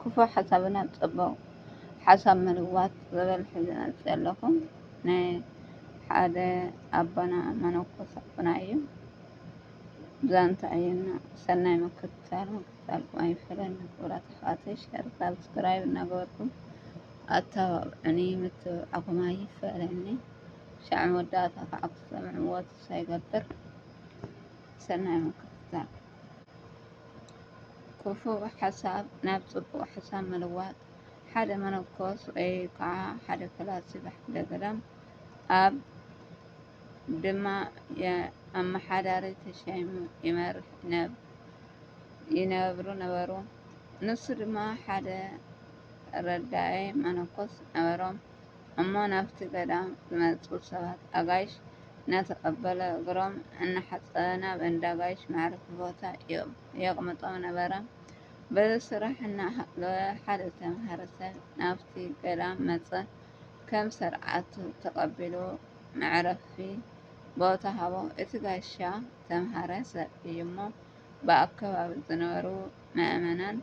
ኩፉእ ሓሳብና ብ ጸቡቅ ሓሳብ ምልዋጥ ዝብል ሒዝናልኪ ዘለኩ ናይ ሓደ ኣቦና መነኮስ ኣቦና እዩ ዛንታ እዩ እና ሰናይ ምክትታል ምክትታልኩ ኣይፈለየና ክቡራት ኣሕዋተይ ሸር ሳብስክራይብ እናገበርኩም ኣተባብዑኒ ምትብባዕኩም ኣይፈለየኒ ሻዕ መወዳእታ ከዓ ክትሰምዕዎ ተስፋ ይገብር ሰናይ ምክትታል ክፉእ ሓሳብ ናብ ጽቡቕ ሓሳብ ምልዋጥ ሓደ መነኮስ ወይ ከዓ ሓደ ፈላሲ ብሓደ ገዳም ኣብ ድማ ኣመሓዳሪ ተሸይሙ ይመርሕ ይነብሩ ነበሩ። ንሱ ድማ ሓደ ረዳኢ መነኮስ ነበሮም። እሞ ናብቲ ገዳም ዝመፁ ሰባት ኣጋይሽ እናተቐበለ እግሮም እናሓፀበ ናብ እንዳ ኣጋይሽ መዕረፊ ቦታ የቕምጦም ነበረ። በዚ ስራሕ እናሃለወ ሓደ ዝተምሃረ ሰብ ናብቲ ገዳም መፀ። ከም ሰርዓቱ ተቐቢሉ መዕረፊ ቦታ ሃቦ። እቲ ጋሻ ዝተምሃረ ሰብ እዩ እሞ ብኣከባቢ ዝነበሩ ምእመናን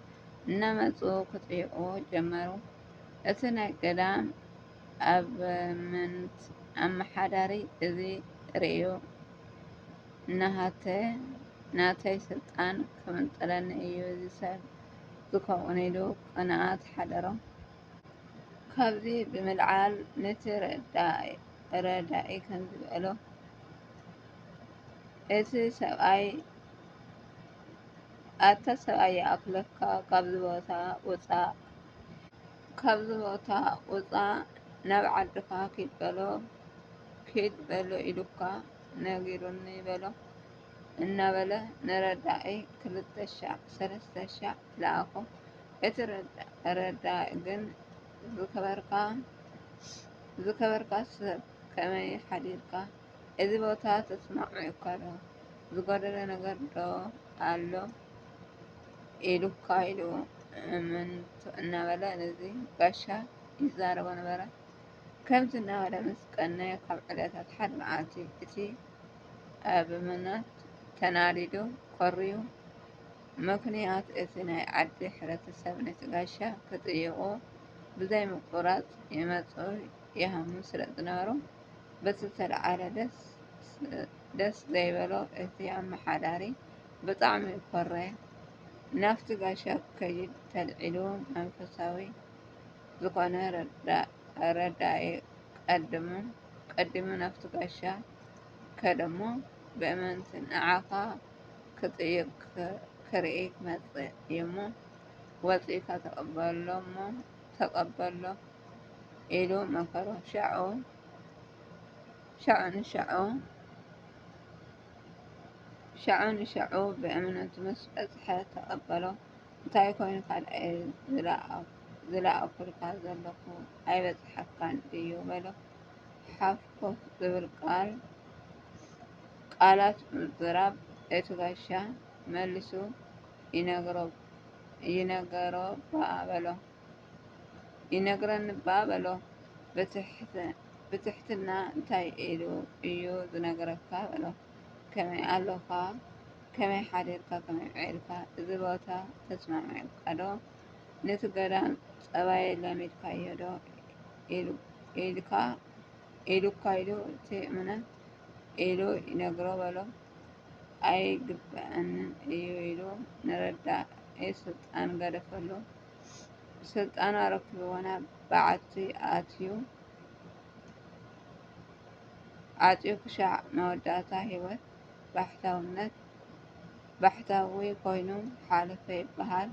እናመፁ ክጥይቕዎ ጀመሩ። እቲ ናይ ገዳም ኣበምኔት ኣመሓዳሪ እዚ ርእዩ ናሃተይ ናተይ ስልጣን ክምንጥለኒ እዩ እዚ ሰብ ዝከውን ኢሉ ቅንኣት ሓደሮ። ካብዚ ብምልዓል ነቲ ረዳኢ ከምዚ በሎ እቲ ሰብኣይ ኣታ ሰብኣይ ይኣክለካ ካብዚ ቦታ ውጻእ፣ ካብዚ ቦታ ውፃእ ናብ ዓድኻ ኪድ በሎ ኪድ በሎ ኢሉካ ነጊሩኒ በሎ እናበለ ንረዳኢ ክልተ ሻዕ ሰለስተ ሻዕ ለኣኾ። እቲ ረዳኢ ግን ዝከበርካ ሰብ ከመይ ሓዲርካ እዚ ቦታ ተስማዕሚዑካ ዶ? ዝጎደለ ነገር ዶ ኣሎ? ኢሉካ ኢሉ እምንቶ እናበለ ነዚ ጋሻ ይዛረቦ ነበረ። ከምዚ እናበለ ምስ ቀነየ ካብ ዕለታት ሓደ መዓልቲ እቲ ኣብ ምናት ተናዲዱ ኮርዩ። ምኽንያት እቲ ናይ ዓዲ ሕብረተሰብ ነቲ ጋሻ ክጥይቑ ብዘይምቁራፅ ይመፁ ይሃሙ ስለዝነበሩ በቲ ዝተልዓለ ደስ ዘይበሎ እቲ ኣመሓዳሪ ብጣዕሚ እኮራየ ናብቲ ጋሻ ክከይድ ተልዒሉ መንፈሳዊ ዝኮነ ረዳኢ ቀዲሙ ናብቲ ጋሻ ከደ እሞ ብእምንቲ ንዓካ ክጥይቅ ክርኢ መፀእ እዩ እሞ ወፂእካ ተቀበሎ እሞ ተቀበሎ ኢሉ መከሮ ሻዑ ንሻዑ ሻዑ ንሻዑ ብእምነቱ ምስ በጽሐ ተቐበሎ። እንታይ ኮይኑ ካልኣይ ዝለኣኹልካ ዘለኹ ኣይበጽሓካን ድዩ በሎ። ሓፍ ኮፍ ዝብል ቃላት ምዝራብ እቲ ጋሻ መሊሱ ይነግሮ'ባ በሎ። ይነግረኒ'ባ በሎ ብትሕትና እንታይ ኢሉ እዩ ዝነግረካ በሎ ከመይ ኣሎኻ ከመይ ሓዲርካ ከመይ ውዒልካ እዚ ቦታ ተስማሚዑካ'ዶ ንቲ ገዳም ጸባይ ለሚድካዮ'ዶ ኢሉካ ኢሉ እቲ እምነት ኢሉ ይነግሮ በሎ ኣይግበኣንን እዩ ኢሉ ንረዳኢ ስልጣን ገደፈሉ። ስልጣን ኣረኪብዎ ናብ በዓቲ ኣትዩ ዓጽዩ ክሻዕ መወዳእታ ሂወት ባሕታውነት ባሕታዊ ኮይኑ ሓለፈ ይበሃል።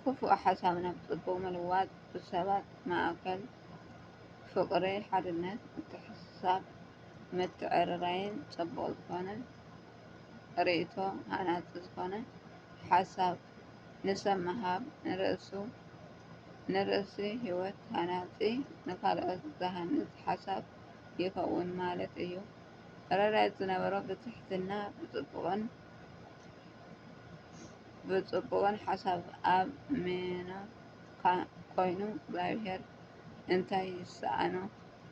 ክፉእ ሓሳብ ናብ ጽቡቕ ምልዋጥ ብሰባት ማእከል ፍቕሪ፣ ሓድነት፣ ምትሕስሳብ፣ ምትዕርራይን ጽቡቕ ዝኾነ ርእይቶ ሃናጺ ዝኾነ ሓሳብ ንሰብ ምሃብ ንርእሱ ህይወት ሃናጺ ንኻልኦት ዝሃንጽ ሓሳብ ይኸውን ማለት እዩ። ረዳት ዝነበሮ ብትሕትና ብጽቡቕን ሓሳብ ኣብ ምኖካ ኮይኑ እግዚኣብሔር እንታይ ይሰኣኖ?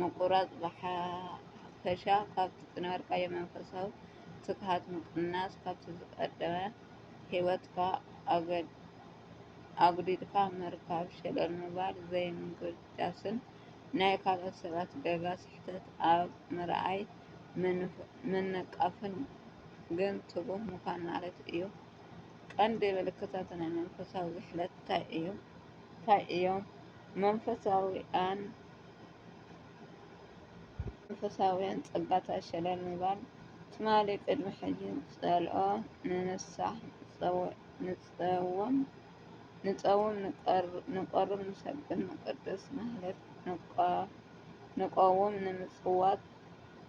ምቁራጽ ብሓፈሻ ካብቲ ዝነበርካዮ መንፈሳዊ ትግሃት ምቕናስ፣ ካብቲ ዝቐደመ ህይወትካ ኣጉዲልካ ምርካብ፣ ሸለል ምባል፣ ዘይምጉዳስን ናይ ካልኦት ሰባት ገጋ ስሕተት ኣብ ምርኣይ ምንቃፍን ግን ትጉህ ምዃን ማለት እዩ። ቀንዲ ምልክታት ናይ መንፈሳዊ ዝሕለት ታይ እዮም? መንፈሳውያን መንፈሳውያን ጸጋታት ሸለል ምባል ትማሊ ቅድሚ ሕጂ ጸልኦ ንንሳሕ ንጸውም ንቀሩብ ንሰግድ ንቅድስ ማህሌት ንቆውም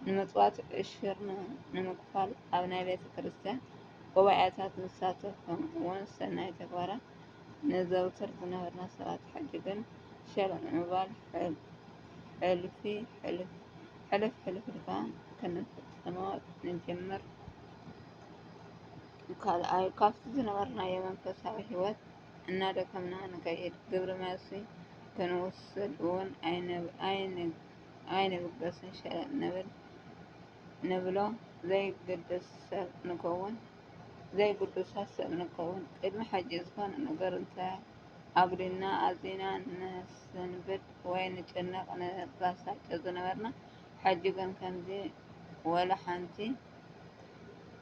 ንምጽዋት ዕሽርና ንምክፋል ኣብ ናይ ቤተክርስትያን ጉባኤታት ንሳተፍ ከምኡውን ሰናይ ተግባራት ነዘውትር ዝነበርና ሰባት ሕጂ ግን ሸለል ምባል ሕልፍ ሕልፍ ኢልካ ክንፍጽሞ ንጅምር። ካልኣይ ካብቲ ዝነበርናዮ መንፈሳዊ ህይወት እናደከምና ንከይድ። ግብረ መልሲ ክንውስድ እውን ኣይንብገስን፣ ሸለል ንብል፣ ንብሎ ዘይግድስ ሰብ ንከውን። ዘይግዱሳት ሰብ ንከውን ቅድሚ ሕጂ ዝኾነ ነገር እንተ ኣጉዲልና ኣዚና ንስንብድ ወይ ንጭነቅ ንባሳጮ ዝነበርና ሕጂ ግን ከምዚ ወላ ሓንቲ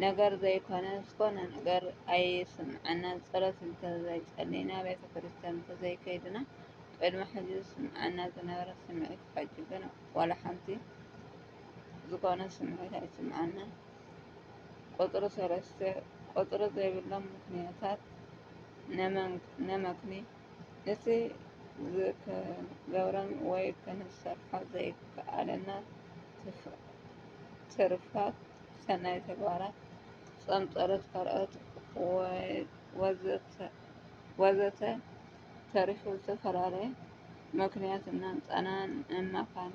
ነገር ዘይኮነ ዝኾነ ነገር ኣይስምዓናን ጸሎት እንተ ዘይጸሊና ቤተክርስትያን እንተ ዘይከድና ቅድሚ ሕጂ ዝስምዓና ዝነበረ ስምዒት ሕጂ ግን ወላ ሓንቲ ዝኾነ ስምዒት ኣይስምዓናን ቁጽሪ ሰለስተ፣ ቁጽሪ ዘይብሎም ምኽንያታት ነመክኒ፣ እቲ ዝከገብረን ወይ ክንሰርሖ ዘይከኣለና ትርፋት ሰናይ ተግባራት፣ ጾም ጸሎት ካልኦት ወዘተ ተሪፉ ዝተፈላለየ ምኽንያት እናምጻእና ነማኽኒ።